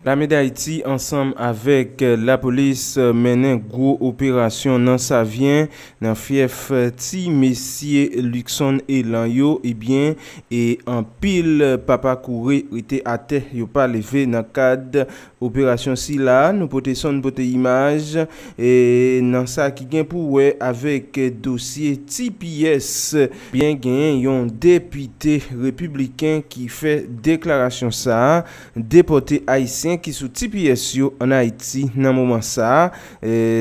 Lame Dayiti ansanm avèk lapolis mennen gwo operasyon nan Savyen nan fyèf ti mesye Luckson Elan yo ebyen e anpil papa koure rete atè yo pa leve nan kad operasyon sila nou pote son pote imaj nan sa ki gen pou wè avèk dosye ti pyès byen gen yon depite repibliken ki fè deklarasyon sa. Depòte Ayisyen ki sou tps yo an Ayiti nan moman sa a,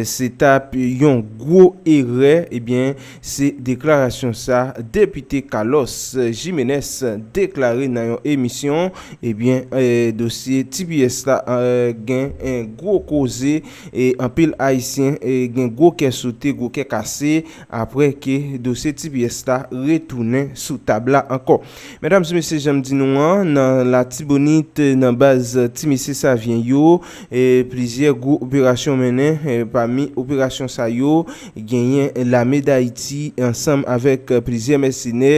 se t ap yon gwo erè, ebyen se deklarasyon sa Depite Carlos Jimenez deklare nan yon emisyon, ebyen dosye tps la gen gwo koze, anpil Ayisyen gen gwo kè sote, gwo kè kase aprè ke dosye tps la retounen sou tab la ankò. Medam e mesye janm di nou an nan latibonit nan baz ti mesye savyen yo plizyè gwo operasyon mennen pami operasyon sa yo genyen lame dayiti ansanm avèk plizyè mèsenè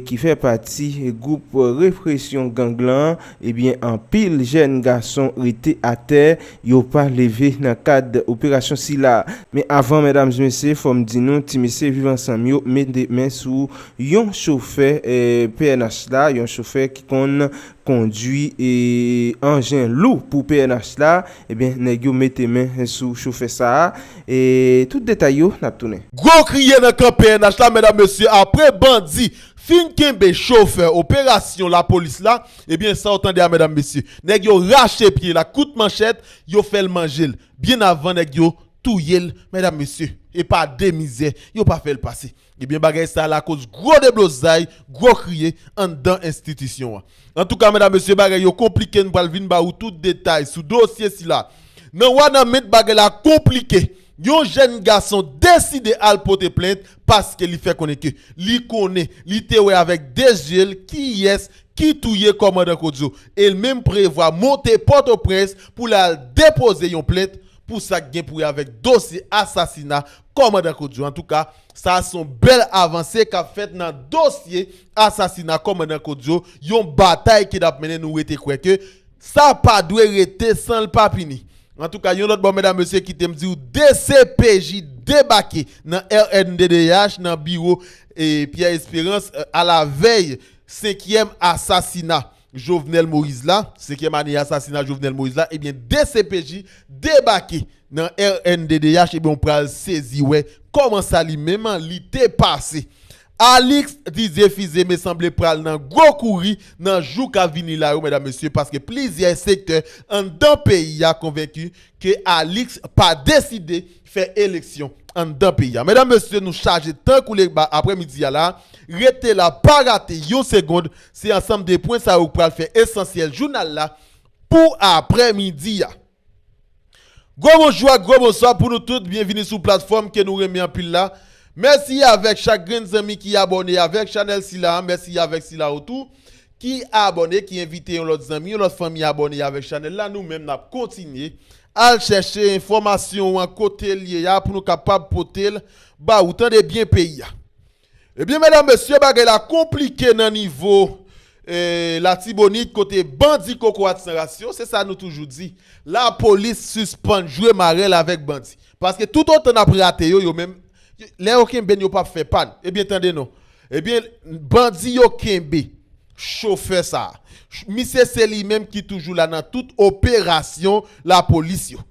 ki fè pati gwoup represyon gang lan ebyen anpil jèn gason rete atè yo pa leve nan kad operasyon sila men avan medam e mesye fòm di nou ti mesye viv ansanm yo mete men sou Yon chofè pnh la, yon chofè ki konn kondwi anjen lou pou pnh la, ebyen nèg yo mete men sou chofè sa a, tout detay yo n ap tounen. Gwo kriye nan kan pnh la medam mesye apre bandi fin kenbe chofè operasyon lapolis la ebyen sa w tande a medam mesye nèg yo rache pye l ak kout manchèt yo fè l manje l byen avan nèg yo touye l medam mesye epa de mizè yo pa fè l pase. Ebyen bagay sa lakoz gwo deblozay, gwo kriye anndan enstitisyon an. Antouka medam mesye bagay yo konplike n pral vin ba ou tout detay sou dosye sila. Nan Wanament bagay la konplike, yon jèn gason deside al pote plent paske li fè konnen ke li konnen, li te wè avèk 2 zye l kiyès ki touye kòmandan Kodzo e l menm prevwa monte Pòtoprens pou l al depoze yon plent pou sa k gen pou wè avèk dosye asasina Kòmandan Kojo, Antouka, sa a se yon bèl avanse k ap fèt nan dosye asasina Kòmandan Kojo, yon batay ki ap mennen nou rete kwè ke sa pa dwe rete san l pa pini. Antouka, yon lòt bò medam mesye kite m di w dcpj debake nan rnddh nan biwo Pierre Espérance alavèy senkyèm asasina. Jovenel Moïse la, senkyèm ane asasina Jovenel Moïse la, ebyen dcpj debake nan rnddh ebyen w pral sezi wè kòman sa li menm li te pase. Alix Didier Fils-Aimé sanble pral nan gwo kouri nan jou kap vini la yo medam mesye paske plizyè sektè anndan peyi a konvenki ke Alix pa deside fè eleksyon anndan peyi a medam mesye nou chaje tankou legba aprè midi a la rete la pa rate yon segond se ansanm de pwen sa yo k pral fè esansyèl jounal la pou aprè midi a gwo bonjou ak gwo bonswa pou nou tout byenvini sou platfòm ke nou renmen anpil la mèsi avèk chak grenn zanmi ki abòne avèk chanèl sila mèsi avèk sila yo tou ki abòne ki envite yon lòt zanmi yon lòt fanmi abòne avèk chanèl la nou menm nap kontinye al chèche enfòmasyon an kotel ye a pou nou kapab potel ba ou tande byen peyi a ebyen medam mesye bagay la konplike nan nivo latibonit kote bandi kokorat san ras yo se sa nou toujou di lapolis sispann jwe marèl avèk bandi paske tout otan nap rate yo yo menm lè yo kenben yo pap fè pa nou ebyen tande non Ebyen bandi yo kenbe chofè sa. Misye se li menm ki toujou la nan tout operasyon lapolis yo.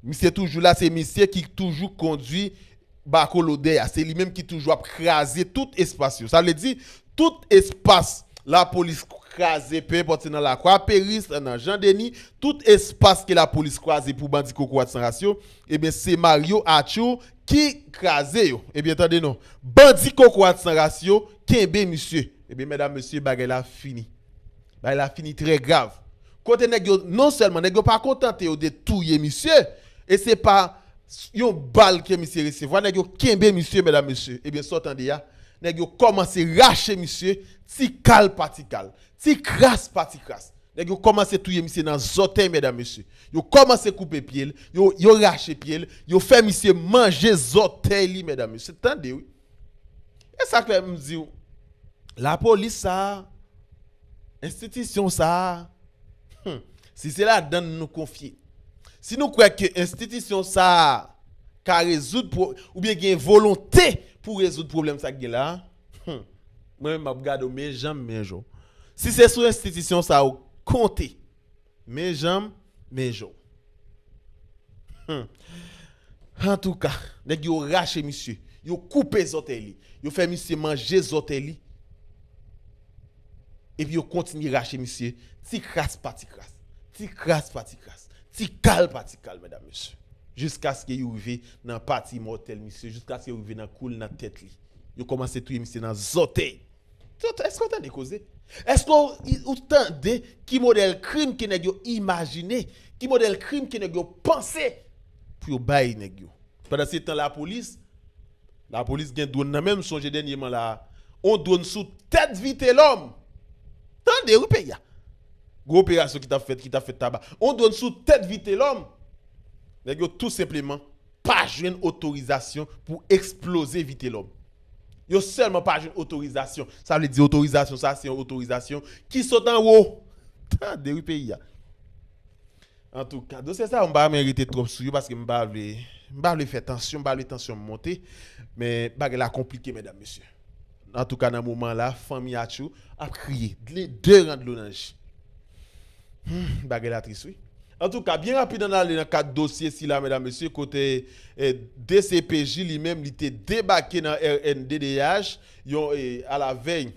Misye toujou la se misye ki toujou kondwi bako lodè a. Se li menm ki toujou ap kraze tout espas yo. Sa vle di tout espas lapolis kraze pe enpòt se nan lakwa peris, nan jan deni, tout espas ke lapolis kraze pou bandi kokorat san ras yo, ebyen se Mario Atchour Ki kraze yo. Ebyen tande non. Bandi kokorat san ras yo kenbe misye. Ebyen medam mesye bagay la fini. Bagay la fini trè grav. Kote nèg yo non sèlman nèg yo pa kontante yo de touye misye e se pa Yon bal ke misye resevwa nèg yo kenbe misye medam mesye ebyen sa w tande a nèg yo kòmanse rache misye ti kal pa ti kal ti kras pa ti kras Nèg yo kòmanse touye misye nan zòtèy mèdam mesye. Yo kòmanse koupe pyel, yo yo rache pyel, yo fè misye manje zòtèy li mèdam mesye. Tande wi. Esak fè m diw la polis sa a, enstitisyon sa a hum si se ladann nou konfye, si nou kwè ke enstitisyon sa a ka rezoud pwo oubyen gen volonte pou rezoud pwoblèm sa k gen la a, Humm mwen menm map gade w men janm men jo si se sou enstitisyon sa ou konte men janm men jo humm antouka nèg yo rache misye yo koupe zòtèy li yo fè misye manje zòtèy li epi yo kontinye rache misye ti kras pa ti kras ti kras pa ti kras ti kal pa ti kal medam mesye jiskaske yo rive nan pati imòtèl misye jiskaske yo rive nan kou l nan tèt li. Yo komanse touye misye nan zotey. Eske w tande koze? Eske w tande ki modèl krim ke nèg yo imajine, ki modèl krim ke nèg yo panse pou yo bay nèg yo? Pandan se tan lapolis, lapolis gen dwonn nan menm, m sonje dènyeman la a, yon dwonn sou tèt Vitelòm! Tande wi peyi a! Gwo operasyon ki t ap fèt, ki t ap fèt Taba. Yon dwonn sou tèt Vitelòm! Nèg yo tou senpleman pa jwenn otorizasyon pou eksploze Vitelòm. Yo sèlman pa jwenn otorizasyon. Sa vle di otorizasyon sa se yon otorizasyon ki sot anwo. Tande wi peyi a. Antouka, dosye sa yo m pa renmen rete twòp sou yo paske m pa vle m pa vle fè tansyon, m pa vle tansyon m monte. Men bagay la konplike medam mesye. Antouka nan moman la fanmi Atchou ap kriye. Dle de ran dlo nan je. Humm bagay la tris wi. Antouka byen rapid ann ale nan kad dosye sila medam mesye kote dcpj li menm li te debake nan rnddh yon alavèy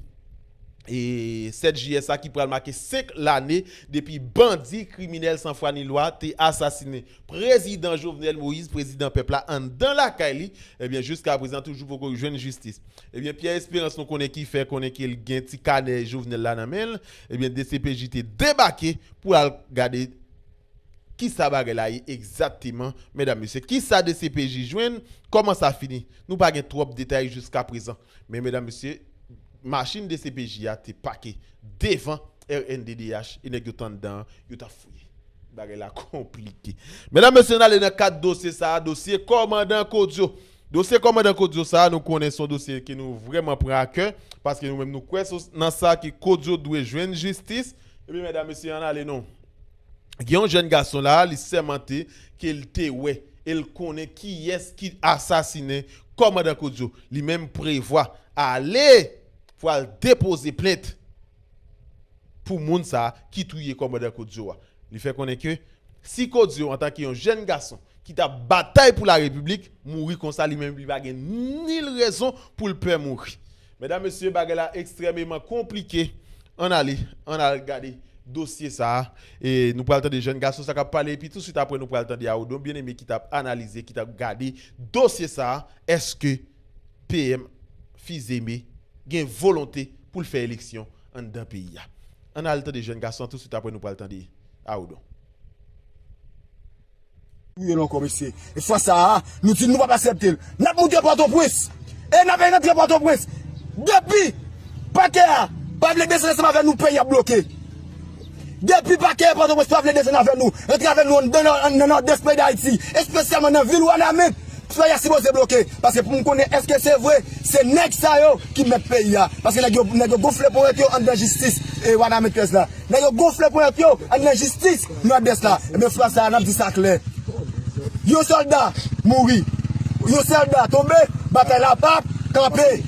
7 jiyè sa ki pral make 5 lane depi bandi kriminèl san fwa ni lwa te asasinen prezidan Jovenel Moïse prezidan pèp la anndan lakay li ebyen jiska prezan toujou poko jwenn jistis ebyen Pierre Espérance nou konnen ki fè konnen ke l gen ti kanè Jovenel la nan men l. Ebyen dcpj te debake pou al gade kisa bagay la ye egzakteman medam mesye. Kisa dcpj jwenn, kòman sa fini? Nou pa gen twòp detay jiskaprezan. Men medam mesye, machin dcpj a te pake devan rnddh e nèg yo t anndan an, yo t ap fouye. Bagay la konplike. Medam mesye n ale nan kad dosye sa a, dosye kòmandan Kodio. Dosye kòmandan Kodio sa a nou konnen son dosye ke nou vrèman pran a kè paske nou menm nou kwè so nan sa ke Kodio dwe jwenn jistis ebyen mèdam mesye ann ale nou gen yon jèn gason la a li sèmante ke l te wè e l konnen kiyès ki asasinen kòmandan Kodio li menm prevwa ale pwal depoze plent. pou moun sa a ki touye kòmandan Kodio a. Li fè konnen ke si Kodio antanke yon jèn gason ki t ap batay pou larepiblik mouri konsa li menm li pa gen nil rezon pou l pè mouri. Medam, mesye bagay la ekstrèmeman konplike ann ale ann al gade dosye sa a e nou pral tande jèn gason sa k ap pale epi touswit aprè nou pral tande Arodon Bien-Aimé ki t ap analize ki t ap gade dosye sa a èske PM Fils-Aimé gen volonte pou l fè eleksyon anndan peyi a. Ann al tande jèn gason an tousuit aprè nou pral tande Arodon. Touye l ankò mesye. E fwa sa a, nou di nou p ap asèpte l. N ap moute Pòtoprens e n ap rantre Pòtoprens. Depi pakè a pa vle bese ansanm avè nou, peyi a bloke. Depi Pakè Pòtoprens pa vle desann avè nou antre avè nou anndan nan Nòdès peyi Dayiti espesyalman nan vil Wanament fè a sipoze bloke paske pou m konnen eske se vre se nèg sa yo ki mèt peyi a paske nèg yo nèg yo gonfle ponyèt yo anndan jistis Wanament 13 la nèg yo gonfle ponyèt yo anndan jistis Nòdès la ebyen fwa sa a n ap di sa klè yon sòlda mouri yon sòlda tonbe batay la p ap kanpe.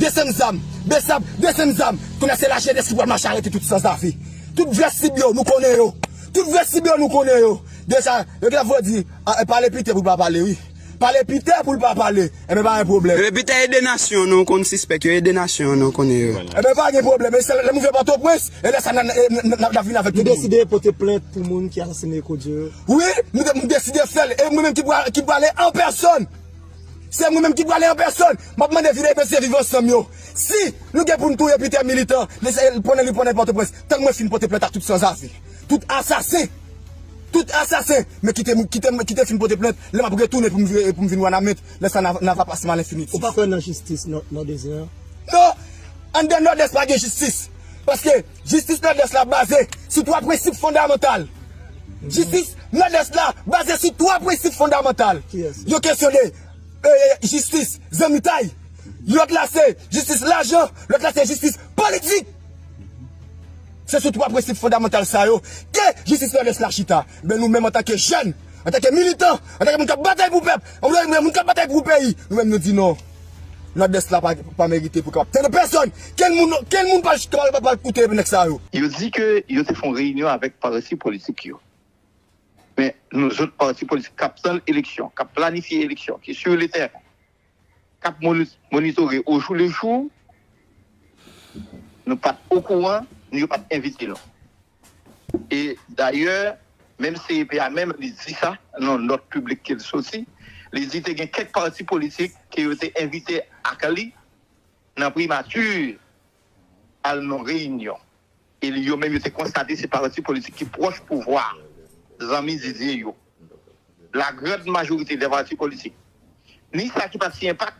Desann zam! Besap! Desann zam! Kounye a se lajenès ki pral mache arete tout sanzave. Tout vrè sib yo, nou konnen yo. Tout vrè sib yo, nou konnen yo. Deja, yo gen ap voye di, a, e pale Piter pou l pa pale wi. Pale Piter pou l pa pale. Enben pa gen pwoblèm. Enben Piter e de nasyon an nou konn sispèk yo, e de nasyon an nou konnen yo. Enben pa gen pwoblèm. E se lè m rive Pòtoprens, e lè sa n ap vini avèk tout moun. Nou deside pote plent pou moun ki asasine Eko Dyo yo? Wi, m deside fè l. E mwen menm ki prale an pèsòn. Se mwen menm ki prale an pèsòn. M ap mande Vidal Mesye Viv Ansanm yo si nou gen pou n touye Peter Militant pandan li pwennèt Pòtoprens tann mwen fin pote plent ak tout sanzave, tout asasen, tout asasen men kite m kite fin pote plent lè m ap retounen pou m vin Wanament lè sa nan va pas m alenfiniti. Ou pa kwè nan jistis nan Nòdwes gen an? Non! Anndan Nòdwès pa gen jistis paske. Jistis Nòdès la baze sou twa prensip fondamantal Jistis Nòdès la baze sou twa prensip fondamantal Yon kesyon de jistis zanmitay Lòt la se jistis lajan Lòt la se jistis politik Se sou twa prensip fondamantal sa yo ke Jistis Nòdès la chita Enben nou menm antanke jèn Antanke militan Antanke moun k ap batay pou pèp Moun k ap batay pou peyi Nou menm nou di non Nòdès la pa merite pou kapab tande pèsòn! Kenn moun, kenn moun pa pral koute nèg sa yo! Yo di ke yo te fè yon reyinyon avèk parti politik yo. Men nou zòt pati politik k ap tann eleksyon, k ap planifye eleksyon, ki sur le terrain, k ap monitore au jour le jour, nou pa t okouran, ni yo pa t envite nou. E dayè, menm CEP a menm li di sa nan yon nòt piblik ke li soti, li di te gen kèk pati politik ke yo te envite ak li nan primati al nan reyinyon. E li yo menm yo te konstate se pati politik ki pwòch pouvwa a, zanmi Didier yo. la grand majorite dè pati politik, ni sa ki pat siyen pak,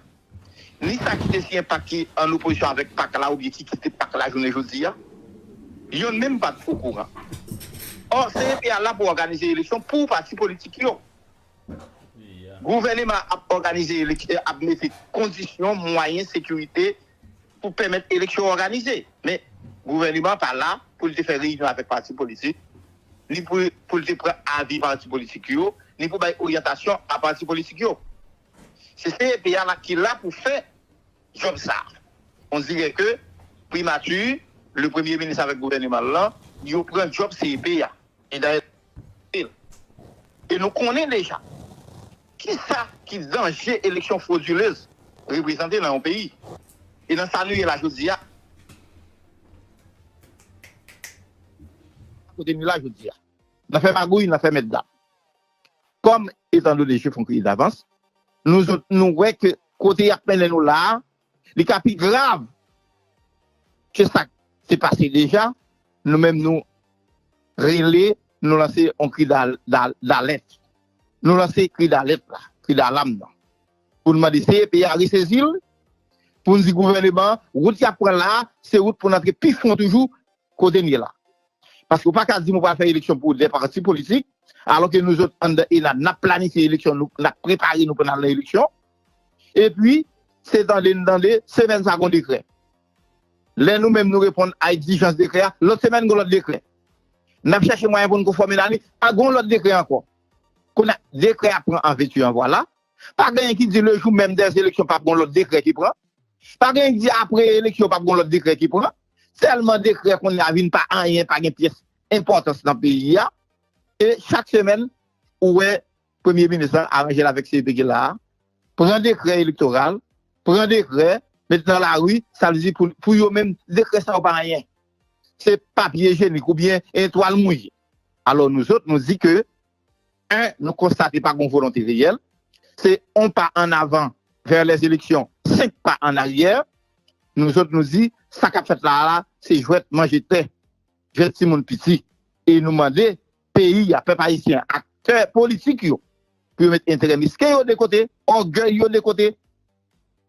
ni sa ki te siyen pak ki an opozisyon avèk pak la oubyen ki kite pak la jounen jodi a, yonn menm pat okouran. Ò, CEP a la pou òganize eleksyon pou pati politik yo. Gouvèneman an ap òganize eleksyon, ap mete kondisyon, mwayen, sekirite, pou pèmèt eleksyon òganize. Men, gouvèneman an pa la pou l te fè reyinyon avèk pati politik, ni pou l te pran avi pati politik yo, ni pou bay oryantasyon a pati politik yo. Se CEP a la ki la pou fè djòb sa a. On dirè ke Primati, le Premye Minis avèk gouvèneman l lan, yo pran djòb CEP a. E dayè, se l. E nou konnen deja. Kisa ki danje eleksyon fwodilez reprezante nan yon peyi? E nan sa nou ye la jodi a? Kote nou ye la jodi a? Nan fè magouy, nan fè mètdam. Kòm etandone je fon kriye davans, nou zòt nou wè ke kote y ap mennen nou la a, Li ka pi grav ke sa k te pase deja, nou menm nou rele, nou lanse yon kri dalèt. Nou lanse kri dalèt la, kri dalam nan. Pou n mande CEP a resezi l, pou n di gouvèneman an, wout y ap pran la a, se wout pou n antre pi fon toujou kote n ye la. Paske ou pa ka di m ou pral fè eleksyon pou 2 pati politik, alò ke nou zòt anndan ENAD n ap planifye eleksyon nou, n ap prepare nou pou n al nan eleksyon. Epi, se tande n tande, semèn sa gon dekrè. Lè nou menm nou reponn a egzijans dekrè a, lòt semèn gon lòt dekrè. N ap chache mwayen pou n konfòme nan li, a gon lòt dekrè ankò. Kounye a, dekrè a pran an vètu an vwala. Pa genyen ki di le jou menm dè eleksyon pap gon lòt dekrè ki pran. Pa genyen ki di apre eleksyon pap gon lòt dekrè ki pran. Tèlman dekrè kounye a vin pa anyen, pa gen pyès enpòtans nan peyi a. E chak semèn ou wè. Premye minis la aranje l avèk CEP ki la a, pran dekrè elektoral, pran dekrè, met nan lari, sa vle di pou yo menm dekrè sa yo pa anyen. Se papye jenik oubyen yon twal mouye. Alò nou zòt nou di ke 1 nou konstate pa gon volonte reyèl, se 1 pa an avan vè lè eleksyon, 5 pa an aryè. Nou zòt nou di sa k ap fèt la a la se jwèt manje tè, jwèt timoun piti e nou mande peyi a, pèp ayisyen an, aktè politik yo, pou yo met enterè mesken yo de kote, ògèy yo de kote,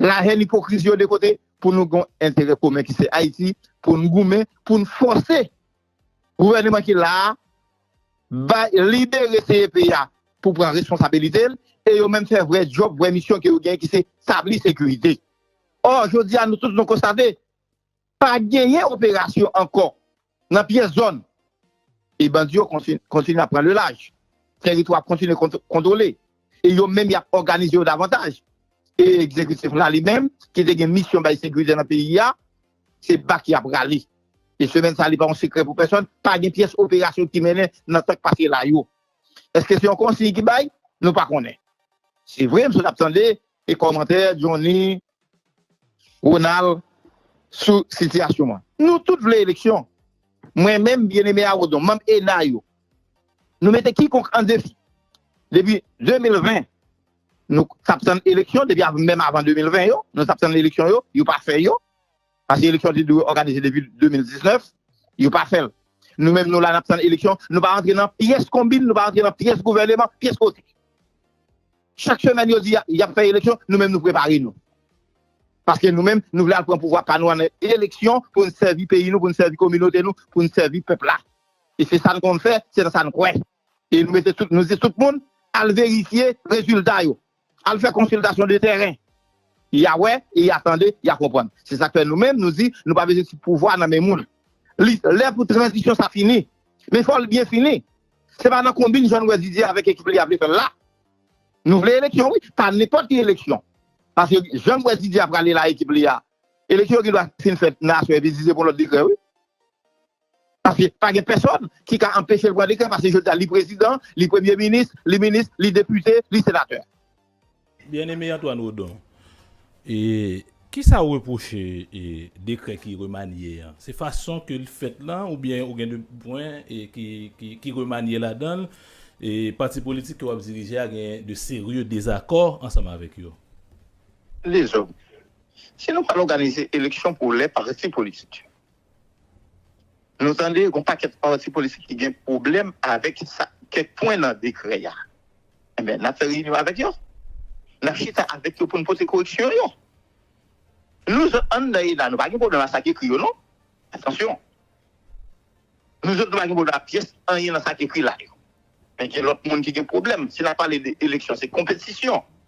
lahèn, ipokrizi yo de kote, pou nou gen yon enterè komen ki se Ayiti, pou nou goumen, pou nou fòse gouvèneman ki la a bay, libere CEP a pou pran responsabilite l, e yo menm fè vrè djòb, vrè misyon ke yo genyen ki se tabli sekirite. Ò, jodi a nou tout nou konstate. Pa genyen operasyon ankò nan pyès zòn e bandi yo kontinye ap pran le laj. Tèritwa ap kontinye kontwole e yo menm y ap òganize yo davantaj. E egzekitif la li menm ki te gen misyon bay sekirite nan peyi a, se bak y ap rale. E semèn sa li pa yon sekrè pou pèsòn, pa gen pyès operasyon ki mennen nan tan k pase la yo. Èske se yon konsiy ki bay? Nou pa konnen. Se vre m sot ap tande E kòmantè Johnny Ronald sou sitiyasyon an. Nou tout vle eleksyon. Mwen menm, Bien-Aimé Arodon, manm ena yo, nou mete kikonk an defi. Depi 2020, nou t ap tann eleksyon, depi menm avan 2020 yo, nou t ap tann eleksyon yo, yo pa fè yo. Pase eleksyon te dwe òganize depi 2019, yo pa fè l. Nou menm nou la nap tann eleksyon, nou pa rantre nan pyès konbin, nou pa rantre nan pyès gouvèneman, pyès kote. Chak semèn yo di yap fè eleksyon, nou menm nou prepare nou. Paske nou menm nou vle al pran pouvwa pa nou an eleksyon pou nou sèvi peyi nou, pou nou sèvi kominote nou, pou nou sèvi pèp la. E se sa nou konn fè, se nan sa nou kwè. E nou mete tout, nou di tout moun al verifye rezilta yo. Al fè konsiltasyon de tèren. Ya wè e ya tande, ya konprann. Se sak fè nou menm nou di nou pa bezwen ti pouvwa nan men moun. Li lè pou tranzisyon sa fini. Men fòl byen fini. Se pa nan konbin jan nou wè Didier avèk ekip li a vle fèl la. Nou vle eleksyon wi, pa nenpòt ki eleksyon. Paske jan m wè Didier a prale la ekip li a, eleksyon yo gen dwa fin fèt nan aswè epi Didier pran lòt dekrè wi. Paske pa gen pèsòn ki ka anpeche l pran dekrè paske jodi a li prezidan, li premye minis, li minis, li depite, li senatè. Byeneme Antoine Odon, ki sa ou repwoche dekrè ki remanye an? Se fason ke l fèt lan oubyen ou gen de pwen ki remanye ladan l e pati politik ke w ap dirije a gen de serye dezakò ansanm avèk yo? Dezòd. Si nou pa l òganize eleksyon pou lè pati politik yo. Nou tande gon pakèt pati politik ki gen pwoblèm avèk sa kèk pwen nan dekrè a. Enben, n ap fè reyinyon avèk yo. N ap chita avèk yo pou n pote koreksyon yo. Nou zòt an nan ENA, nou pa gen pwoblèm ak sa ki ekri yo non. Atansyon! Nou zòt nou pa gen pwoblèm ak pyès anyen nan sa ki ekri la yo. Men gen lòt moun ki gen pwoblèm. Si n ap pale de eleksyon, se konpetisyon.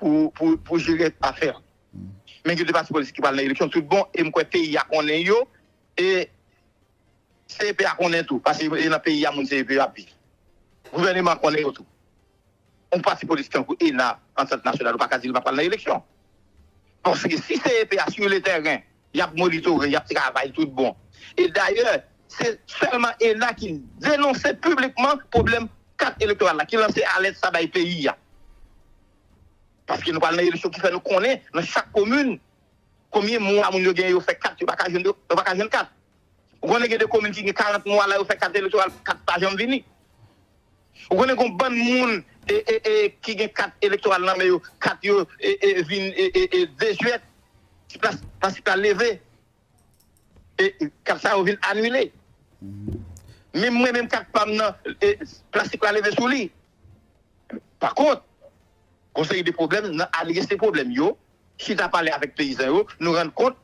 pou jere afè an. Men gen 2 pati politik ki pral nan eleksyon tout bon e m kwè peyi a konnen yo e CEP a konnen tou paske e nan peyi a moun CEP yo ap viv. Gouvèneman an konnen yo tou. Yon pati politik tankou ena, Antant Nasyonal ou pa ka di li pa pral nan eleksyon. Paske si CEP a sou le tèren y ap monitore, y ap travay tout bon. E dayè, se sèlman ena ki denonse piblikman pwoblèm kat elektoral la, ki lanse alèt sa bay peyi a. Paske nou pral nan eleksyon ki fè nou konnen nan chak komin, konbyen mwa moun yo gen yo fè kat yo pa ka jwenn yo pa ka jwenn kat. Ou konnen gen de komin ki gen 40 mwa la yo fè kat elektoral, kat pa janm vini. Ou konnen gon bann moun ki gen kat elektoral nan men yo, kat yo vin desuèt, ti plas pasi pala leve, e kat sa yo vin anile. Menm mwen menm kat pa m nan, plas si pala leve sou li. Pa kont, gon seri de pwoblèm nan adrese pwoblèm yo, chita pale avèk peyizan yo, nou rann kont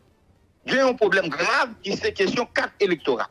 gen yon pwoblèm grav ki se kesyon kat elektoral.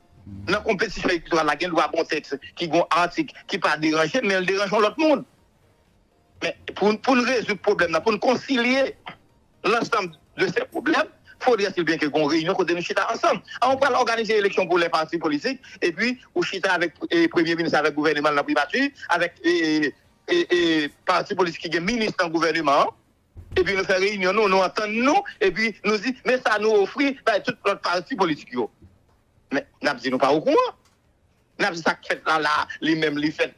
Nan konpetisyon elektoral la gen dwa gon tèks ki gon atik ki pa deranje m men l deranje yon lòt moun. Men pou n rezoud pwoblèm nan, pou n konsilye lansanm de se pwoblèm, fodre si byen ke gon reyinyon kote nou chita ansanm. An ou pral òganize eleksyon pou lè pati politik epi ou chita avèk premye minis avèk gouvèneman l nan privati avèk pati politik ki gen minis nan gouvèneman an. Epi nou fè reyinyon nou, nou antann nou, epi nou di, men sa nou ofri bay tout lòt pati politik yo. Men, n ap di nou pa okouran. N ap di sa k fèt la la a, li menm li fèt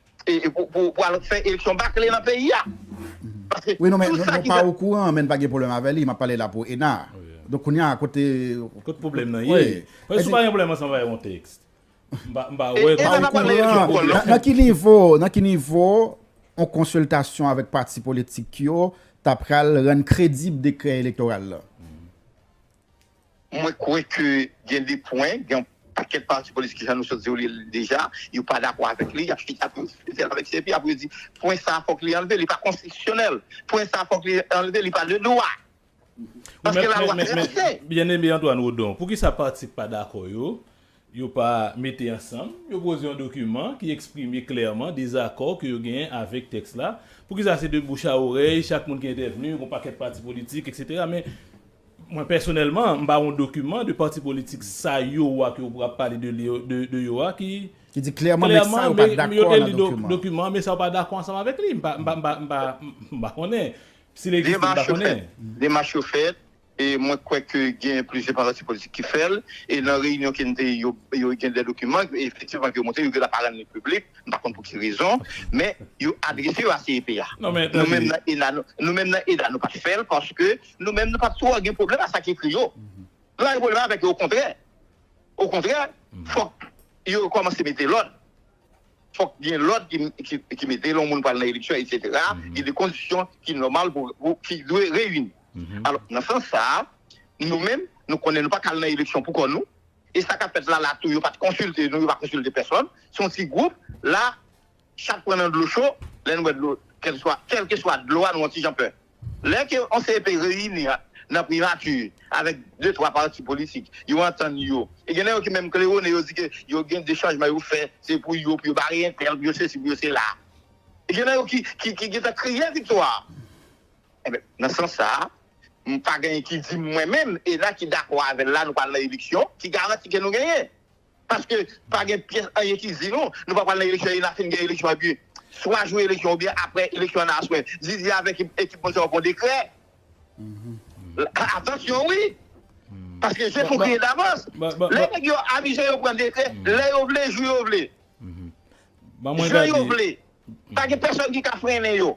pou al fè eleksyon bakle nan peyi a. Paske tout sa ki fèt. Nou pa okouran, men n pa gen pwoblèm avè li. M ap pale la pou ENA. Donk kounye a, kote. Kote pwoblèm nan ye. Mwen si w pa gen pwoblèm ansanm avè yon tèks, Nan ki nivo, nan ki nivo yon konsiltasyon avèk pati politik yo ta pral rann kredib dekrè elektoral la? Mwen kwè ke gen de pwen, gen yon pakèt pati politik jan nou sot di yo li deja, yo pa dakò avèk li, y ap chita pou yo diskite l avèk CEPI, apre yo di pwen sa fòk li anlve, li pa konstitisyonèl, pwen sa fòk li anlve, li pa de dwa. Ou men, men, men, Bien-Aimé Antoine Odon, poukisa pati k pa dakò yo, yo pa mete ansanm, yo poze yon dokiman ki eksprime klèman dezakò ke yo genyen avèk tèks la? Poukisa se de bouch a orèy, chak moun ki entèvni, gon pakèt pati politik, eksetera, men mwen pèsonèlman, m pa wè yon dokiman de pati politik sa yo a ke ou ap pale de li, de yo a ki, Ki di klèman men sa yo pa dakò nan dokiman an. Dokiman an men sa yo pa dakò ansanm avèk li. M pa, m pa, m pa, m pa konnen. Si li egziste, m pa konnen. Demach yo fèt, e mwen kwè ke gen plizyè pati politik ki fè l, e nan reyinyon ke n te ye yo gen dè dokiman ke efektivman ke yo montre, yo gen dwa pa rann li piblik, m pa konn pou ki rezon, men yo adrese yo a CEP a. Nou menm nan ENA, nou menm nan ENA nou pa t fè l paske nou menm nou pa t twò gen pwoblèm a sa ki ekri yo. Nou pa gen pwoblèm avèk yo okontrè, okontrè fòk yo kòmanse mete lòd. Fòk gen lòd ki mete lè yon moun pral nan eleksyon eksetera, gen de kondisyon ki nòmal pou ki dwe reyini. Alò nan sans sa a, nou menm nou konnen nou pa ka al nan eleksyon pou kò nou e sa k ap fèt la la tou yo pa t konsilte nou, yo pa konsilte pèsòn, se yon ti gwoup la chat pran nan dlo cho lè nou wè dlo kèlkeswa dlo a nou yon ti jan pè. Lè ke yon CEP reyini nan primati avèk de twa pati politik, yo antann yo. E gen nan yo ki menm klewone, yo di ke yo gen de chanjman yo fè, se pou yo, pou yo bare entèl, pou yo sesi, pou yo sela. E gen nan yo ki gentan kriye viktwa. Enben, nan sans sa a, m pa genyen ki di m mwen menm, ENA ki dakò avè l la nou pral nan eleksyon, ki garanti ke nou genyen. Paske pa gen pyès anyen ki di nou, nou pa pral nan eleksyon e na fin gen eleksyon epi swa jou eleksyon oubyen aprè eleksyon an na aswè Didi avèk ekip moun sa yo pran dekrè. Atansyon wi! Paske je tou griye davans. Lè nèg yo avize yo pran dekrè lè yo vle, jou yo vle. Jan yo vle. Pa gen pèsòn ki ka frennen yo.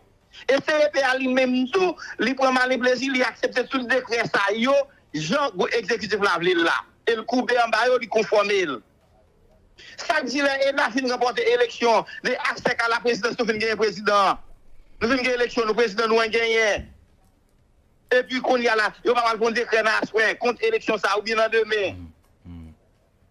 E CEP a li menm tou, li pran malen plezi li aksepte tout dekrè sa yo jan gwo egzekitif la vle l la. E l koube anba yo, li konfòme l. Sa k di lè ENA fin ranpòte eleksyon, lè aksè ka laprezidans nou fin genyen prezidan an. Nou fin gen eleksyon nou, prezidan nou an genyen. Epi kounye a la, yo pa pral pran dekrè nan aswè kont eleksyon sa a oubyen nan demen.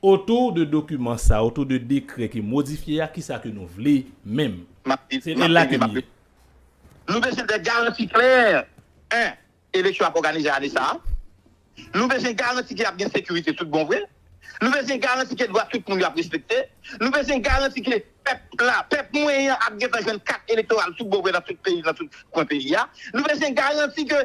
Otou de dokiman sa, otou de dekrè ki modifye a, kisa ke nou vle menm? Map li, Se map la ke li, m map ye. repon. Nou bezwen de garanti klè, 1 eleksyon ap òganize ane sa a, nou bezwen garanti ke ap gen sekirite tout bon vre, nou bezwen garanti ke dwa tout moun yo ap respekte, nou bezwen garanti ke pèp la, pèp mwen an ap gentan jwenn kat elektoral tout bon vre nan tout peyi, nan tout kwen peyi a, nou bezwen garanti ke.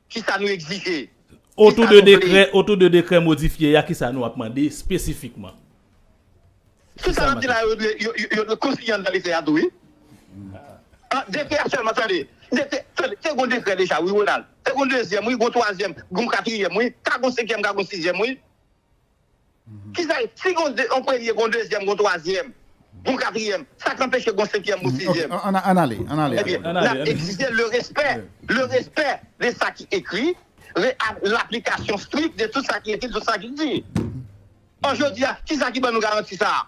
ki sa nou egzije? Ki sa nou vle? Otou de dekrè modifye a, ki sa nou ap mande espesifikman? Sou sa n ap di la, yo dwe konsiyen anndan dekrè a tou wi. Dekrè a sèlman, tande, tande, te gen yon dekrè deja wi, Ronald. Te gen yon dezyèm wi, gen yon twazyèm, gen yon katriyèm wi, ka gen yon senkyèm, ka gen yon sizyèm wi. Kisa e? Si gon de, yon premye, gon dezyèm, gon twazyèm, gon katriyèm, sa k anpeche gon senkyèm, gon sizyèm? Ebyen, n ap egzije le respè, le respè de sa ki ekri, le ak laplikasyon strik de tout sa ki ekri, tout sa ki di. Or, jodi a, kisa ki ban nou garanti sa a?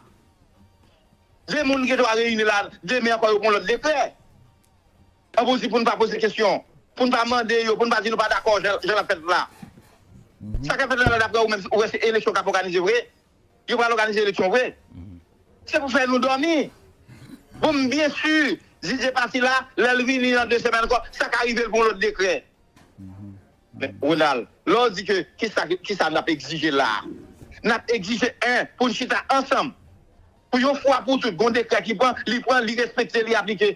De moun gen dwa reyini la, demen ankò yo pran lòt dekrè. An pou di pou n pa poze kesyon, pou n pa mande yo, pou n pa di nou pa dakò jan l ap fèt la. Sa k ap fèt la daprè ou menm ou wè se eleksyon k ap òganize vre? Yo pral òganize eleksyon vre? Se pou fè nou dòmi? Bon m byen si Didier pati la, lè l vini nan 2 semèn ankò sa ka rive l pou yon lòt dekrè. Men Ronald, lè w di ke kisa n ap egzije la a? N ap egzije 1 pou n chita ansanm pou yon fwa pou tout gon dekrè ki pran, li pran, li respekte, li aplike.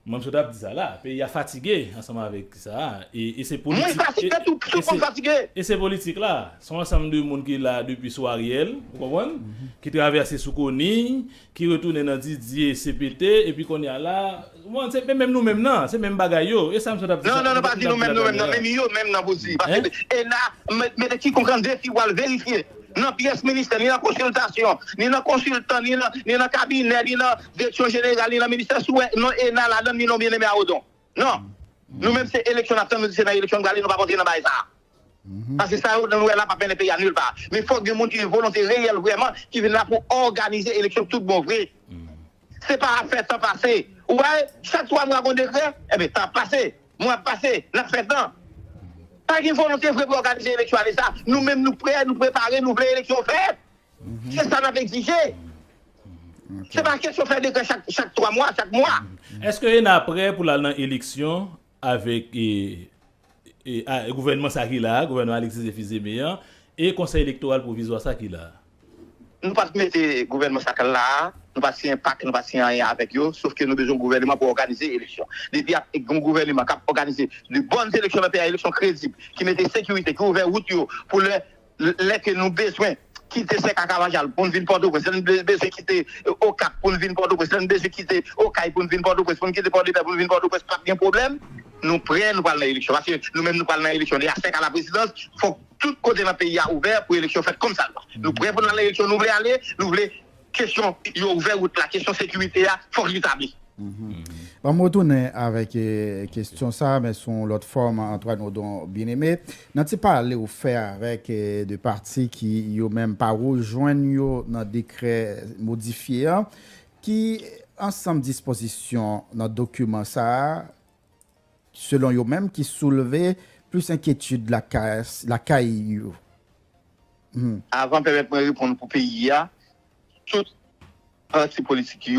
Mwen sot ap di sa la, peyi a fatige ansanm avèk sa a, e se politik, Mwen fatige tou, plis ou konn fatige. E se politik la, se yon ansanm de moun ki la depi sou Ariel, ou konprann, ki travèse sou Conille, ki retounen nan Didier, CPT, epi kounye a la, ou konprann, se menm nou menm nan, se menm bagay yo, e sa m sot ap di sa, Non, non, non, pa di nou menm nou menm nan, men yo menm nan pou di, paske e la, mete kikonk an defi pou al verifye, nan pyès ministè, ni nan konsiltasyon, ni nan konsiltan, ni nan kabinè, ni nan Direksyon jeneral ni nan ministè si w wè non ena ladan ni non Bien-Aimé a Odon non nou menm se eleksyon n ap tann nou di se nan eleksyon n prale nou p ap antre nan bagay sa a paske sa yo nou wè la p ap mennen peyi a nil pa men fòk gen moun ki gen volonte reyèl vrèman ki vin la pou òganize eleksyon tout bon vre se pa ap fè tan pase ou wè chak 3 mwa gon dekrè enben tan ap pase mwa ap pase n ap fè tan pa gen volonte vre pou òganize eleksyon ane sa nou menm nou prè nou prepare nou vle eleksyon fèt. Se sa n ap egzije. Se pa kesyon fè dekrè chak 3 mwa, chak mwa. Eske ena prè pou l al nan eleksyon avèk gouvènman sa ki la a, gouvènman Alexis Zephyr Zeme an, e konsèy elektoral pwovizwa sa ki la a? Nou pa t mete gouvènman sa k la a, nou pa t siyen pak, nou pa t siyen anyen avèk yo, sof ke nou bezwen gouvèneman pou òganize eleksyon. Depi ap gen yon gouvèneman k ap òganize de bòn eleksyon nan peyi a, eleksyon kredib, ki mete sekirite, ki ouvè wout yo pou lè lè ke nou bezwen kite sèk ak avajal pou n vin pòtoprens, lè n bezwen kite okap pou n vin pòtoprens, lè n bezwen kite okay pou n vin pòtoprens, pou n kite pòdepè pou n vin pòtoprens pap gen pwoblèm, nou prè nou pral nan eleksyon paske nou menm nou pral nan eleksyon deja sèk a la prezidans fòk tout kote nan peyi a ouvè pou eleksyon fèt kòmsadwa nou prè pou n al nan eleksyon nou vle ale nou vle. kesyon yo ouvè wout la kesyon sekirite a fòk li tabli. Banm retounen avèk kesyon sa men sou yon lòt fòm Antoine Odon Bien-Aimé nan ti pale ou fè avèk 2 pati ki yo menm pa rejwenn yo nan dekrè modifye an ki ansanm dispozisyon nan dokiman sa selon yo menm ki soulve plis enkyetid lakay yo. Avan pèmèt mwen reponn pou peyi a, tout pati politik yo.